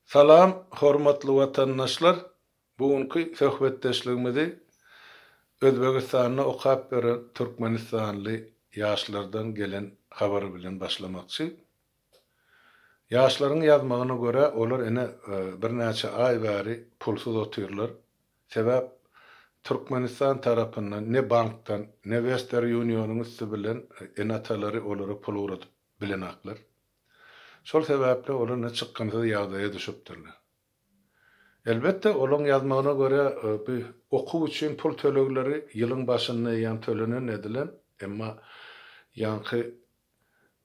Salam, hormatly watandaşlar! Bu günki söhbetdeşligimizi Özbegistanda okap ýören türkmenistanly ýaşlardan gelen habar bilen başlamakçy. Ýaşlaryň ýazmagyna görä, olar ine, birnäçe aý bäri pulsuz otyrlar. Sebäp, Türkmenistan tarapyndan ne bankdan, ne Western Unionyň üsti bilen ene-atalary olara pul ugradyp bilenoklar. Şol sebäpli olar indi çykgynsyz ýagdaýa düşüpdirler. Elbetde, olaryň ýazmagyna görä, bu okuw üçin pul tölegleri ýylyň başynda ýa tölenen edilen, emma ýaňky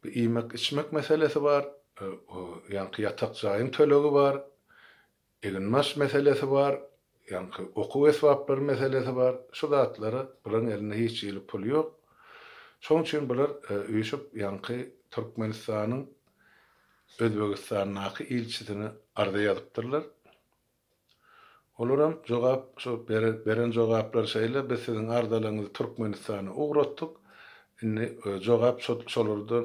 bu iýmek-içmek meselesi bar, ýaňky ýatak jaýyň tölegi bar, Eginbaş meselesi bar, ýaňky okuw esbaplary meselesi bar. Şu zatlara bularyň elinde hiç hili pul ýok. Şonuň üçin bular üýşüp ýaňky Türkmenistanyň Özbegistandaky ilçisine arza ýazypdyrlar. Olar hem jogap şu beren jogaplary şeýle, biz siziň arzalaryňyzy Türkmenistana ugratdyk. Indi jogap şolardan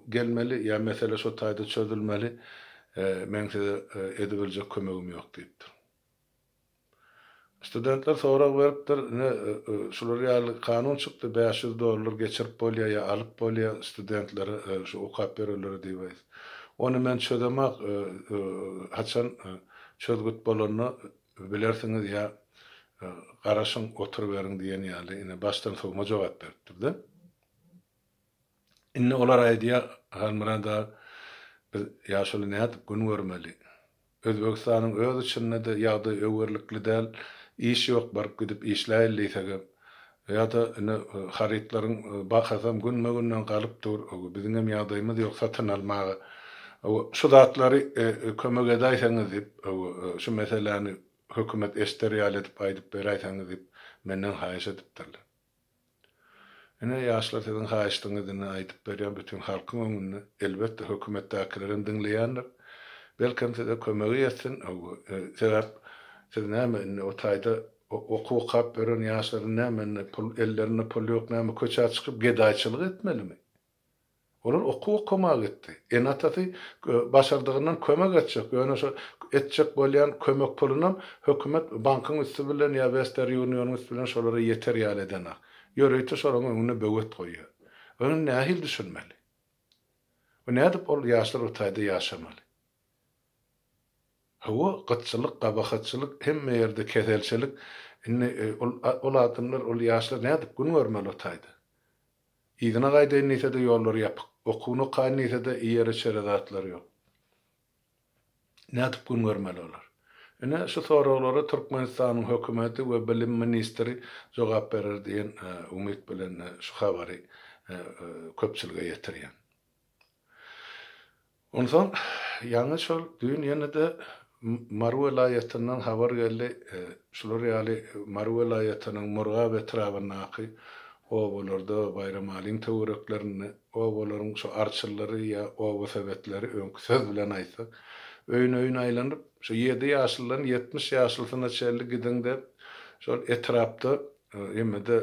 gelmeli ýa mesele şo taýda çözülmeli, meň size edibiljek kömegim ýok diýipdir. Studentler sorag beripdir, ine şular ýaly kanun çykdy, bäş ýüz dollar geçirip bolýar ýa alyp bolýar studentlere şu okap berenlere diýip. Ony men çözemak, haçan çözgüt bolanda Bilersiňiz ýa garaşyň, oturyberiň diýen ýaly ine başdan sowma jogap beripdir-de. Indi olar aýdýar, Halmyrat aga, biz ýaşuly nädip gün görmeli? Özbegistanyň öz içinde-de ýagdaý öwerlikli däl, iş ýok, baryp-gidip işläýin diýsegem, Ýa-da ine harytlaryň bahasam günbe-günden galyp dur, biziňem ýagdaýymyz ýok satyn almaga. Şu zatlary kömek edäýseňiz diýip, şu meseläni hökümet eşder ýaly edip aýdyp beräýseňiz diýip, menden haýyş edipdirler. Ine, ýaşlar siziň haýyşdyňyz indi aýdyp berýän bütin halkyň öňünde. Elbetde hökümetdäkilerem diňleýändir. Belkem size kömegi ýetsin. Sebäp siz näme indi o taýda Okuw okap ýören ýaşlaryň näme indi pul ellerinde pul ýok näme köçä çykyp gedaýçylyk etmelimi? Olar okuw okamaga gitdi. Ene-atasy başardygyndan kömek etjek. Ýöne şo etjek bolýan kömek pulunam hökümet bankyň üsti bilen ýa Wester Unionyň üsti bilen şolara ýeter ýaly edenok. Ýörite şolaryň öňünde böwet goýýar. Ony indi nähili düşünmeli? We nädip ol ýaşlar o taýda ýaşamaly? Hawa, gytçylyk, gabahatçylyk, hemme ýerde keselçelik. Indi ol, ol adamlar, ol ýaşlar nädip gün görmeli o taýda? Yzyna gaýdaýyn diýse-de ýollar ýapyk. Okuwyny okaýyn diýse-de iýere-içere zatlar ýok. Nädip gün görmeli olar? Ine, şu soraglara Türkmenistanyň hökümeti we bilim ministri jogap berer diýen umyt bilen şu habary köpçülige ýetirýän. Onsoň ýaňy şol düýn ýene-de Mary welaýatyndan habar geldi, şular ýaly Mary welaýatynyň Murgap etrabyndaky obalarda, Baýramalyň töwereklerinde obalaryň şu arçylylary ýa oba sebetleri, öňki söz bilen aýtsak, öýün-öýün aýlanyp, şu ýedi ýaşlydan ýetmiş ýaşlysyna çenli gidiň dep, şol etrapda hemme-de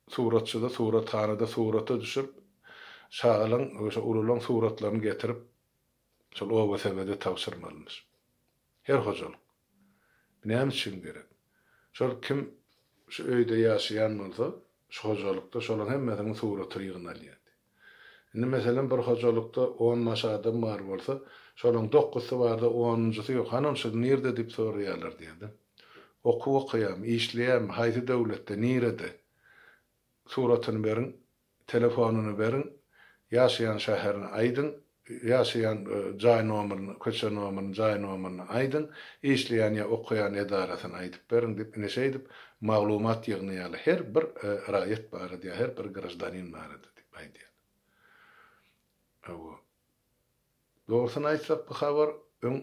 Suratçyda, surathanada surata düşüp, şagalaň we şo ululaň suratlaryny getirip, şol oba sebede tabşyrmalymyş. Her hojalyk. Bu näme üçin gerek? Şol kim şu öýde ýaşaýan bolsa, şu hojalykda şolaň hemmesiniň suratyny ýygnalýardy. Indi, meselem, bir hojalykda on baş adam bar bolsa, şolaryň dokgusy bar-da, onunjysy ýok. Hany, ol şygy nirde diýip soraýarlar diýerdi. Okuw okaýarmy, işleýärmi, haýsy döwletde, nirede, suratyny beriň, telefonyny beriň, ýaşaýan şäherini aýdyň, Ýaşaýan jaý nomerini, köçe nomerini, jaý nomerini aýdyň, işleýän ýa okaýan edarasyny aýdyp beriň diýip ine şeýdip maglumat ýygnaýarlar her bir raýat barada ýa her bir graždanin barada diýip aýdýar. Hawa. Dogrusyny aýtsak bu habar öň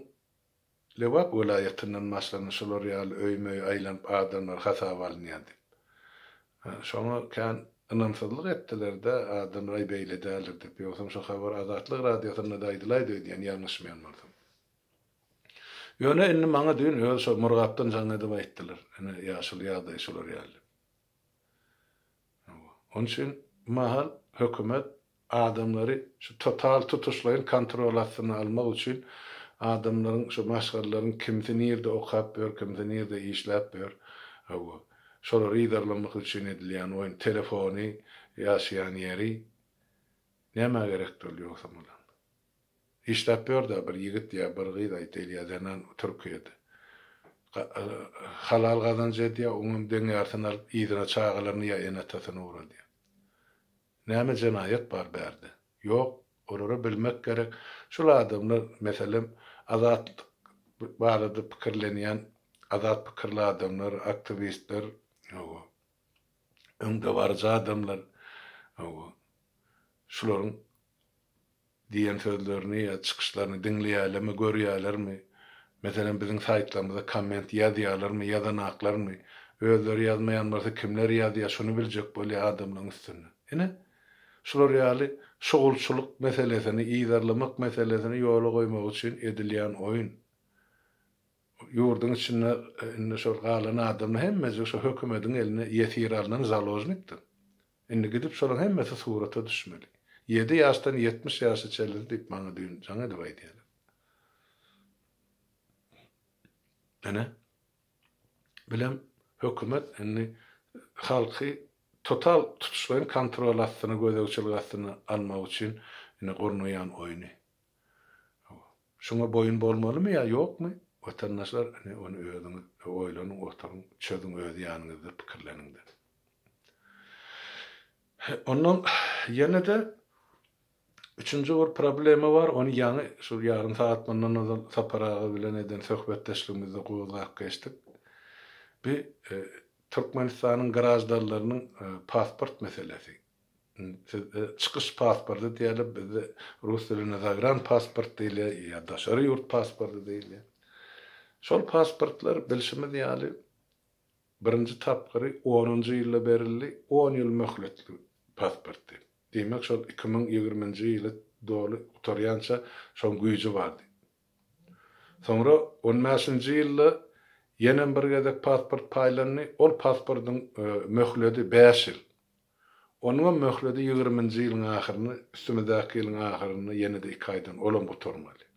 Lebap welaýatyndan başlanyp şular ýaly öýme-öý aýlanyp adamlar hasaba alynýar diýip. Şoňa kän ynamsyzlyk etdiler-dä, adamlar aý beýle däldir diýip. Ýogsam şu habar Azatlyk radiosynda-da aýdylaýdy öýdýän ýalňyşmaýan bolsam. Ýöne indi maňa düýn öz şo Murgapdan jaň edip aýtdylar, ine ýaşuly ýagdaý şular ýaly diýip. Onuň üçin bu mahal hökümet adamlary şu total tutuşlaýyn kontrol astyna almak üçin adamlaryň şu maşgalalaryň kimsi nirde okap ýör, kimsi nirde işläp ýör, hawa, şolary yzarlamak üçin edilýän oýun, telefony, ýaşaýan ýeri. Nämä gerekdi ol ýogsam olar? Işläp ýörda bir ýigit ýa bir gyz aýtayl ýa zenan türkiýede halal gazanç edýä oňam deň ýartyny alyp yzyna çagalaryny ýa ene atasyny ugradýa näme jenaýat bar bärde ýok olara bilmek gerek şul adamlar meselem azatlyk barada pikirlenýän azat pikirli adamlar aktiwistler hawa öňdebaryjy adamlar hawa şularyň Diýen sözlerini ýa çykyşlaryny diňleýärlermi, görýärlermi? Meselem, biziň saýtlarymyza komment ýazýarlarmy, ýazanaklarmy? Özleri ýazmaýan bolsa, kimler ýazýar, şuny biljek bolýar adamlaryň üstünden. Ine, şular ýaly şugulçylyk meselesini, yzarlamak meselesini ýola goýmak üçin edilýän oýun. Ýurduň içinde indi şol galan adamlar hemmesi şu hökümediň eline ýesir alnan založnikdir. Indi gidip şolaň hemmesi surata düşmeli. Ýedi ýaşdan ýetmiş ýaşa çenli diýip maňa düýn jaň edip aýdýarlar. Ine, bilen hökümet indi halky total tutuşlaýyn kontrol astyna, gözegçilik astyna almak üçin indi gurnaýan oýny. Hawa. Şuňa boýun bolmalymy ýa ýokmy? Watandaşlar, ine, ony özüňiz oýlanyň, oturyň, çözüň öz ýanyňyzda, pikirleniň-de. He, ondan ýene-de üçünji bir problema bar, ony ýaňy şu ýarym sagat mundan ozal Sapar aga bilen eden söhbetdeşligimizde gozgap geçdik. Bi, Türkmenistanyň graždanlarynyň pasport meselesi. Sizde çykyş pasporty diýeli, bizde rus dilinde zagran pasport diýilýär ýa daşary ýurt pasporty diýilýär. Şol pasportlar bilşimiz ýaly birinji tapgyry onunjy ýylda berildi, on ýyl möhletli pasportdy. Diýmek şol iki müň ýigriminji ýyly doly gutarýança şoň güýji bardy. Soňra on bäşinji ýylda ýenem bir gezek pasport paýlandy, ol pasportyň möhledi bäş ýyl. Onuňam möhledi ýigriminji ýylyň ahyryna, üstümizdäki ýylyň ahyryna ýene-de iki aýdan olam gutarmaly.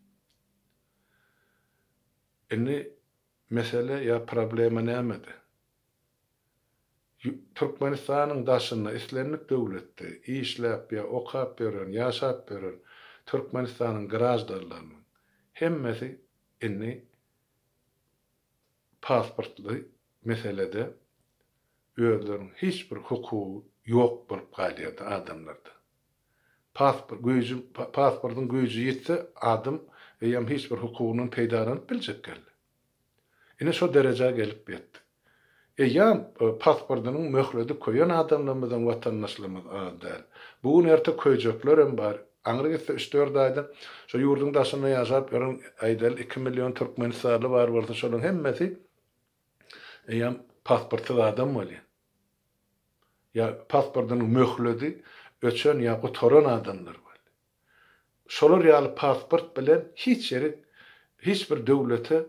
Indi mesele ýa problema nämede? Türkmenistanyň daşynda islendik döwletde işläp ýa okap ýören, ýaşap ýören Türkmenistanyň graždanlarynyň hemmesi indi pasportly meselede özleriniň hiç bir hukugy ýok bolup galýardy adamlarda. Pasport güýji pasportyň güýji ýitse adam eýýäm hiç bir hukugyndan peýdalanyp biljek geldi. Ine şo derejä gelip ýetdi. Eýýäm pasportynyň möhledi köýen adamlarymyzyň watandaşlarymyz az däl. Bu gün erte köýjeklerem bar Aňry gitse üç-dört aýda şu ýurduň daşynda ýaşap ýören aýdaly iki million türkmenistanly bar bolsa şolaryň hemmesi eýýäm pasportsyz adam bolýar. Ýa pasportynyň möhledi öçen ýa gutaran adamlar bolýar. Şolar ýaly pasport bilen hiç ýere hiç bir döwlete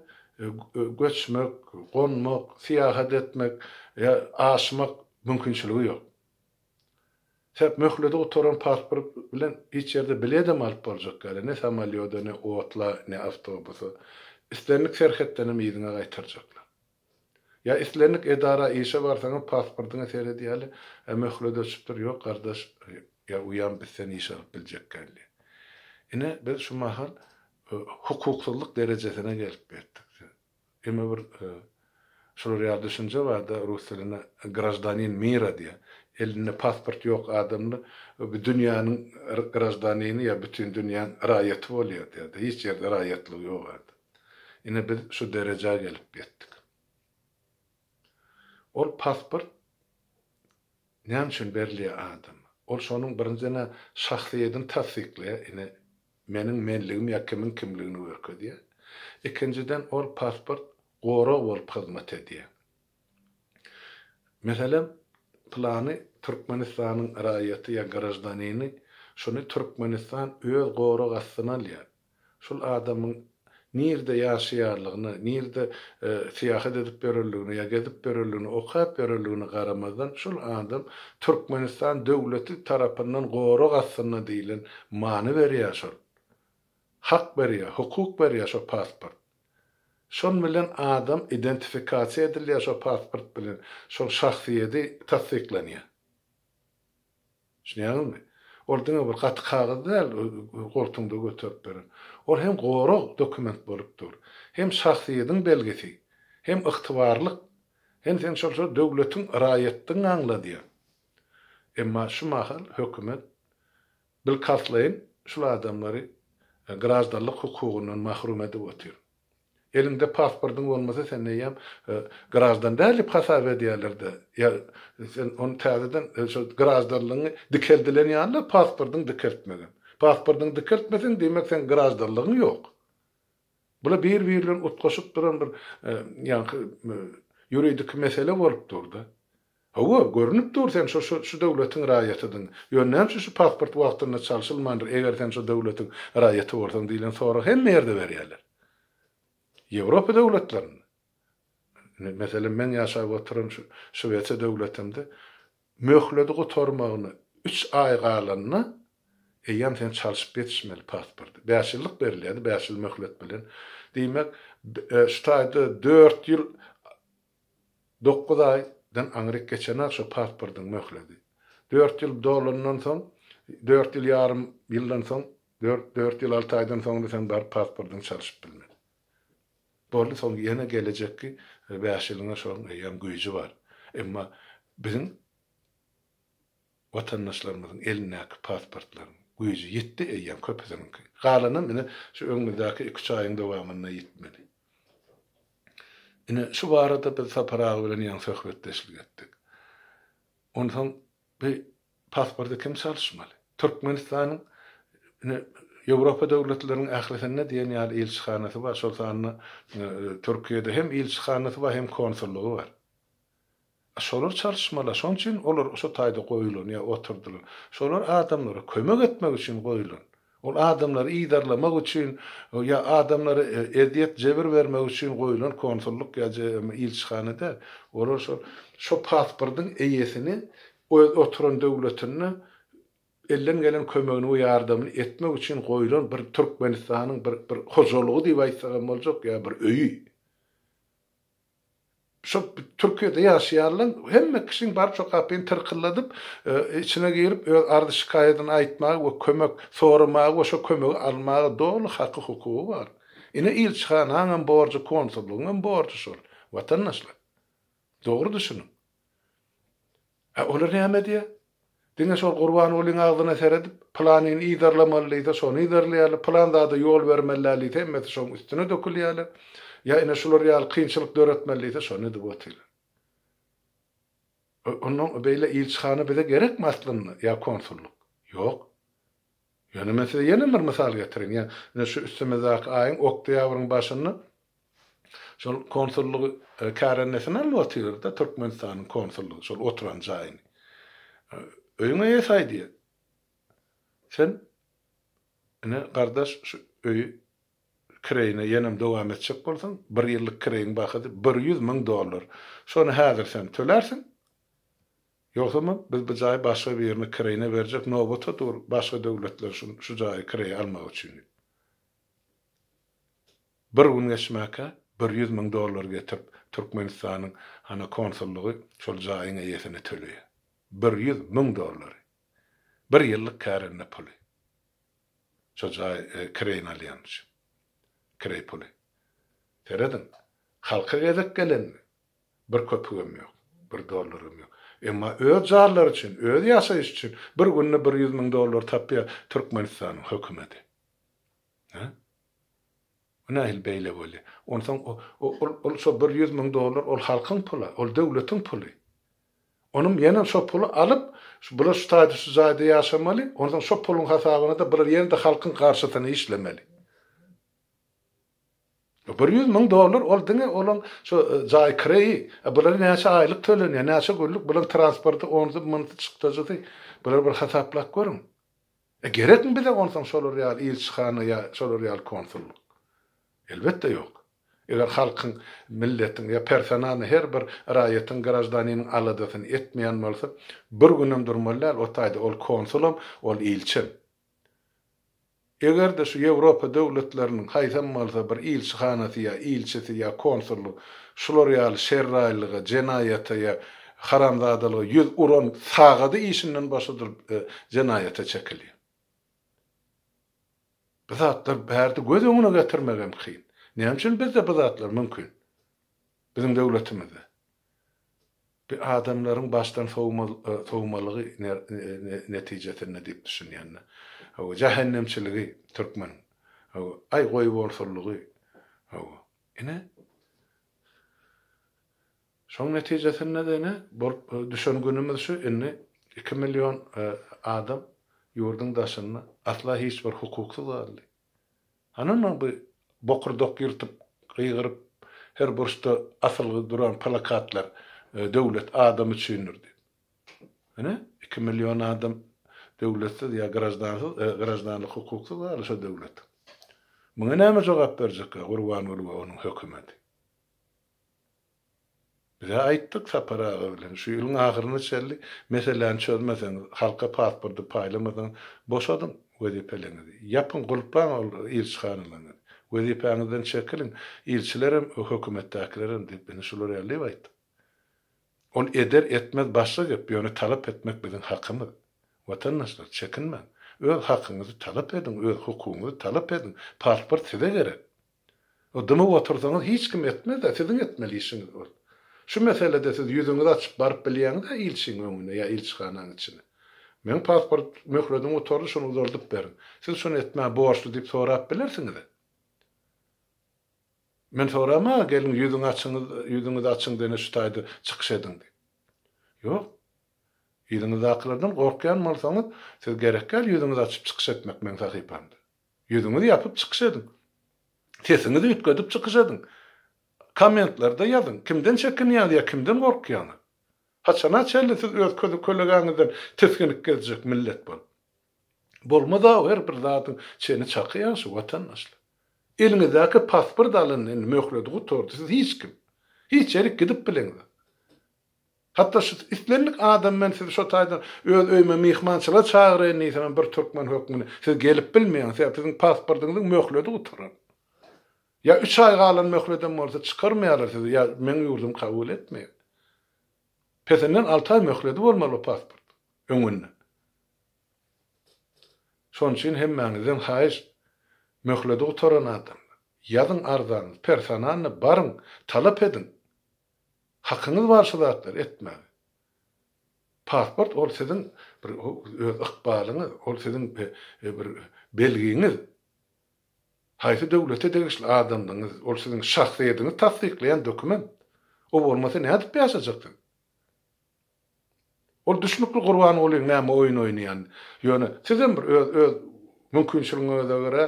göçmek, gonmak, syýahat etmek ýa aşmak mümkinçiligi ýok. Hep möhlede gutaran pasport bilen hiç ýerde biledem alyp boljak ýaly, ne samolýoda, ne otla, ne awtobusa. Islendik serhetdenem yzyňa gaýtarjaklar. Ýa islendik edara işe barsaňam pasportyňa seredýäli, Ä möhlet öçüpdir, ýok gardaş, ýa uýam biz seni işe alyp biljek däldi. Ine biz şu mahal hukuksyzlyk derejesine gelip ýetdik. Emma bir şular ýaly düşünje barda rus dilinde graždanin mira diýýär. Elinde pasport ýok adamda bu dünýäniň graždanini ýa bütin dünýäň raýaty bolýar diýýärdi. Hiç ýerde raýatlygy ýok adam. Ine biz şu derejä gelip ýetdik. Ol pasport näme üçin berilýär adama? Ol şonuň birinjiden-ä şahsyýedini tassyklaýar. Ine Meniň menligim ýa kimiň kimligini görkezýär. Ikinjiden ol pasport gorag bolup hyzmat edýär. Meselem, pylany Türkmenistanyň raýaty ýa graždanini, şuny Türkmenistan öz gorag astyna alýar. Şul adamyň nirde ýaşaýarlygyna, nirde syýahat edip ýörerligine ýa gezip ýörerligine, okap ýörerligine garamazdan şol adam Türkmenistan döwleti tarapyndan gorag astynda diýlen many berýär şol. Hak berýär, hukuk berýär şo pasport. Şon bilen adam identifikasiýa edilýär şo pasport bilen, şol şahsyýedi tassyklanýar. Düşünýäňizmi? Ol diňe bir gaty kagyz däl, goltuňda göterip beren. Ol hem gorag, dokument bolup dur. Hem şahsyýediň belgisi, hem ygtybarlyk, hem sen şol şol döwletiň raýatdygyňy aňladýar. Emma şu mahal hökümet bilkalslaýyn şul adamlary graždanlyk hukugyndan mahrum edip otyr. Eliňde pasportyň bolmasa sen eýýäm graždan däl diýip hasap edýärler-de, ýa sen ony täzeden şol graždanlygyňy dikeldilen ýaly-la pasportyňy dikeltmegem. Pasportyňy dikeltmeseň diýmek seň graždanlygyň ýok. Bu-la bir-biri bilen utgaşyp duran bir ýaňky ýuridiki mesele bolup dur-da. Hawa, görnüp dur sen şo şu döwletiň raýatydyň. Ýöne näme üçin şu pasport wagtynda çalşylmandyr, eger sen şo döwletiň raýaty bolsaň diýlen soragy hemme ýerde berýärler. Ýewropa döwletlerinde, meselem meň ýaşap oturan şu Şwesiýa döwletinde möhledi gutarmagyna üç aý galanda eýýäm sen çalşyp ýetişmeli pasporty. Bäş ýyllyk berilýärdi, bäş ýyl möhlet bilen. Diýmek, şu taýda dört ýyl Dokuz aý dan aňryk geçenak şo pasportyň möhledi. Dört ýyl dolandan soň, dört ýyl ýarym ýyldan soň, dört dört ýyl alty aýdan soňra sen baryp pasportyňy çalyşyp bilmedi. Boldy soň ýene gelejekki bäş ýylyňa şoň eýýäm güýji bar. Emma biziň. Watandaşlarymyzyň elindäki pasportlaryň güýji ýetdi eýýäm köpüsiniňki. Galanam ine şu öňümizdäki iki-üç aýyň dowamynda ýetmeli. Ine şu barada biz Sapar aga bilen ýaňy söhbetdeşlik etdik. Onsoň bu pasporty kim çalyşmaly? Türkmenistanyň ine Ýewropa döwletleriniň ählisinde diýen ýaly ilçihanasy bar, şol sanda Türkiýede hem ilçihanasy bar, hem konsullygy bar. Şolar çalyşmalaşan üçin olar şo taýda goýulan ýa oturdylan. Şolar adamlara kömek etmek üçin goýulan. Ol adamlary yzarlamak üçin ýa adamlara ezýet, jebir bermek üçin goýulan konsullyk ýa ilçihana däl. Olar şol şo pasportyň eýesini öz oturan döwletinde elden gelen kömegini we ýardamyny etmek üçin goýulan bir Türkmenistanyň bir bir hojalygy diýip aýtsak hem boljak ýa bir öýi. Şu Türkiýede ýaşaýanlaň hemme kişiň bar şu kapyny tyrkylladyp, içine girip öz arz-şikaýadyny aýtmaga we kömek soramaga we şo kömegi almaga doly haky-hukugy bar. Ine ilçihanaň hem borjy konsullygyň hem borjy şol. Watandaşlar. Dogry düşüniň. A olar näme edýär? Diňe şol Gurbangulyň agzyna seredip, pylanyny yzarlamaly diýse, şony yzarlaýarlar, pylan zada ýol bermeli däl diýse, hemmesi şoň üstüne dökülýärler. Ýa ine şular ýaly kynçylyk döretmeli diýse, şony edip otyrlar. Onda beýle ilçihana bize gerekmi aslynda ýa konsullyk? Ýok. Ýöne men size ýene bir mysal getireýin. Ýa, ine şu üstümizdäki aýyň oktýabryň başynda şol konsullygy kärendesin alyp otyr-da, Türkmenistanyň konsullygy, şol oturan jaýyny. Öýüň eýesi aýdýar. Sen, ine, gardaş, şu öýi kireýine ýenem dowam etjek bolsaň, bir ýyllyk kireýiň bahasy bir ýüz müň dollar. Şony häzir sen tölärsiň. Ýogsam biz bu jaýy başga birine kireýine berjek nobata dur başga döwletler şun şu jaýy kireýe almak üçin diýip. Bir gün geçmäkä bir ýüz müň dollar getirip Türkmenistanyň hana konsullygy şol jaýyň eýesine töleýär. Bir ýüz müň dollary. Bir ýyllyk kärende puly. Şo jaýy kireýine alýan üçin. Kireý puly. Serediň. Halka gezek gelenmi? Bir köpügem ýok, bir dollaram ýok. Emma öz jarlary üçin, öz ýaşaýyşy üçin bir günde bir ýüz müň dollar tapýar Türkmenistanyň hökümeti. Hä? Bu nähili beýle bolýar? Onsoň ol şo bir ýüz müň dollar ol halkyň puly, ol döwletiň puly. Onuň ýene şo puly alyp, bular şu taýda şu jaýda ýaşamaly, onsoň şo puluň hasabyna-da bular ýene-de halkyň garşysyna işlemeli. Bir ýüz müň dollar ol diňe olaň şo jaý kireýi, a bulara näçe aýlyk tölenýär, näçe günlük bulaň transporty, onsy, munsy, çykdajysy, bulary bir hasaplap görüň. E gerekmi bize onsoň şolar ýaly ilçihana ýa şolar ýaly konsullyk? Elbetde ýok. Eger halkyň, milletiň ýa personalny her bir raýatyň, graždaniniň aladasyny etmeýän bolsa, bir günem durmaly däl o taýda ol konsulam, ol ilçem. Eger-de şu Ýewropa döwletleriniň haýsam bolsa bir ilçihanasy ýa ilçisi ýa konsuly şular ýaly şerraýlyga, jenaýata ýa haramzadalyga ýüz uran sagady işinden boşadylyp jenaýata çekilýär. Bu zatlar bärde göz öňüne getirmegem kyn. Näme üçin bizde bu zatlar mümkin? Biziň döwletimizde. Bu adamlaryň başdan sowmalygy netijesinde diýip düşünýände. Hawa, jähennemçiligi türkmen. Hawa, aý goýborsulygy. Hawa, ine. Şoň netijesinde-de ine bolup düşen günümiz şu, indi iki million adam ýurduň daşynda asla hiç bir hukuksyz galdy. Anana bu bokurdak ýyrtyp gygyryp her burçda asylgy duran plakatlar döwlet adam üçindir diýip. Ine iki million adam döwletsiz ýa graždansyz graždanlyk hukuksyz galy şo döwlet. Muňa näme jogap berjekka Gurbanguly we onuň hökümeti. Biz-ä aýtdyk Sapar aga bilen, şu ýylyň ahyryna çenli meseläni çözmeseňiz, halka pasporty paýlamasaňyz, boşadyň wezipeleňizi, ýapyň, gulplaň ol ilçihanalaňyzy, wezipäňizden çekiliň, ilçilerem, hökümetdäkilerem diýip, indi şulary älleýip aýtdyk. Ol eder, etmez başga gep, ýöne talap etmek biziň hakymyz. Watandaşlar, çekinmäň. Öz hakyňyzy talap ediň, öz hukugyňyzy talap ediň. Pasport size gerek. Dymyp otursaňyz hiç kim etmezä siziň etmeli işiňiz ol. Şu meselede siz ýüzüňizi açyp baryp bilýäňizä ilçiň öňüne ýa ilçihanaň içine. Meň pasport möhledim gutardy şony uzaldyp beriň. Siz şony etmäge borçly diýip sorap bilersiňizä. Men soramaga geldim ýüzüňi açyňyz ýüzüňizi açyň dene şu taýda çykyş ediň diýip. Ýok. Yzyňyzdakylardan gorkýan bolsaňyz siz gerekýal ýüzüňizi açyp çykyş etmek meň sahypamda. Ýüzüňizi ýapyp çykyş ediň. Sesiňizi üýtgedip çykyş ediň. Kommentlarda ýazyň, kimden çekinýäňiz ýa kimden gorkýaňyz? Haçana çenli siz öz kölegäňizden tisginip gezjek millet bolup? Bolmaz-a her bir zadyň çeni çaky ýagşy watandaşlar. Eliňizdäki pasport alyndy indi, möhledi gutardy, siz hiç kim. Hiç ýerik gidip bileňzok. Hatda şu islendik adam men sizi şo taýdan öz öýüme myhmançylyga çagyraýyn diýsemem bir türkmen hökmünde siz gelip bilmeýäňiz sebäp siziň pasportyňyzyň möhledi gutaran. Ýa üç aý galan möhledem bolsa çykarmaýarlar sizi ýa meň ýurdum kabul etmeýär. Pesinden alty aý möhledi bolmaly bu pasportyň öňünden. Şonuň üçin hemmäňizden haýyş möhledi gutaran adamlar ýazyň arzanyzy personalny baryň talap ediň. Hakyňyz bar şu zatlary etmäge. Pasport ol siziň bir öz ykbalyňyz, ol siziň bir belgiňiz. Haýsy döwlete degişli adamdygyňyz, ol siziň şahsyýediňizi tassyklaýan dokument. O bolmasa nädip ýaşajak siz? Ol düşnükli Gurbangulyň näme oýun oýnaýany. Ýöne sizem bir öz öz mümkinçiligiňize görä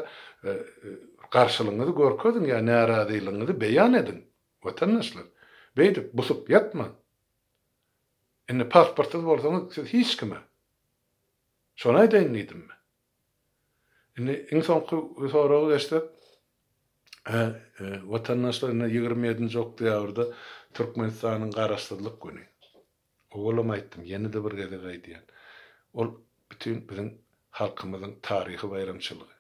garşylygyňyzy görkeziň ýa närazylygyňyzy beýan ediň. Watandaşlar, beýdip busup ýatmaň. Indi pasportsyz bolsaňyz, siz hiç kime. Şony aýdaýyn diýdim men. Indi iň soňky soraga geçsek, watandaşlar, indi ýigrimi ýedinji oktýabrda Türkmenistanyň Garaşsyzlyk güni. Owalam aýtdym, ýene-de bir gezek aýdýan. Ol bütin biziň halkymyzyň taryhy baýramçylygy.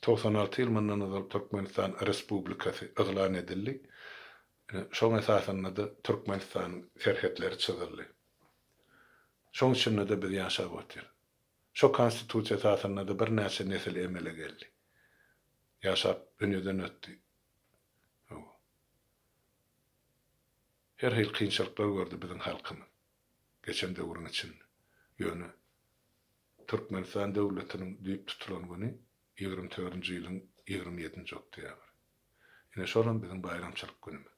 Togsan alty ýyl mundan ozal Türkmenistan Respublikasy yglan edildi. Şoň esasynda-da Türkmenistanyň serhetleri çyzyldy. Şoň içinde-de biz ýaşap otyrys. Şo Konstitusiýa esasynda-da birnäçe nesil emele geldi. Ýaşap dünýeden ötdi. Hawa. Her hili kynçylyklar gördi biziň halkymyz geçen döwrüň içinde. Ýöne Türkmenistan döwletiniň düýp tutulan güni ýigrimi törünji ýylyň ýigrimi ýedinji oktýabry. Ine şolam biziň baýramçylyk günümiz.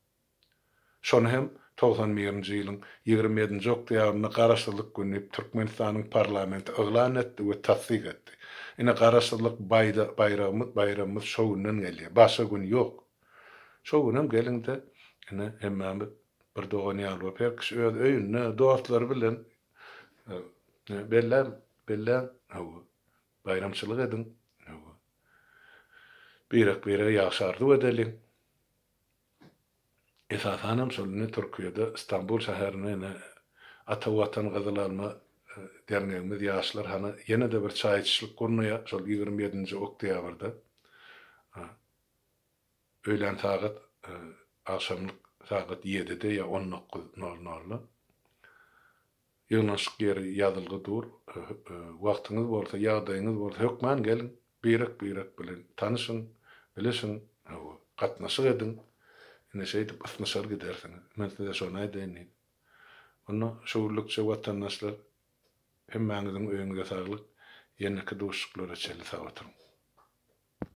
Şony hem togsan birinji ýylyň ýigrimi ýedinji oktýabrynda Garaşsyzlyk güni diýip Türkmenistanyň parlamenti yglan etdi we tassyk etdi. Ine Garaşsyzlyk baýda baýragymyz baýramymyz şo günden gelýär. Başga gün ýok. Şo günem geliňde ine hemmämiz bir dogan ýaly bolup her kişi öz öýünde dostlary bilen Belläň, belläň, hawa, baýramçylyk ediň, hawa. Birek-birege ýagşy arzuw edeliň. Esasanam şol indi Türkiýede Stambul şäherinde indi Ata Watan Gyzyl Alma dernegimiz ýaşlar hany ýene-de bir çaý içişlik gurnaýar şol ýigrimi ýedinji oktýabrda. Öýlän sagat agşamlyk sagat ýedide ýa on dokuz nol nolda. Ýygnanyşyk ýeri ýazylgy dur. Wagtyňyz bolsa, ýagdaýyňyz bolsa, hökman geliň, birek-birek bilen tanyşyň, bilişiň, hawa, gatnaşyk ediň. Ine, şeýdip ysnyşar gidersiňiz. Men size şony aýdaýyn diýdim. Onda şu günlükçe watandaşlar, hemmäňiziň öýüňize saglyk, ýeneki duşuşyklara çenli sag oturyň!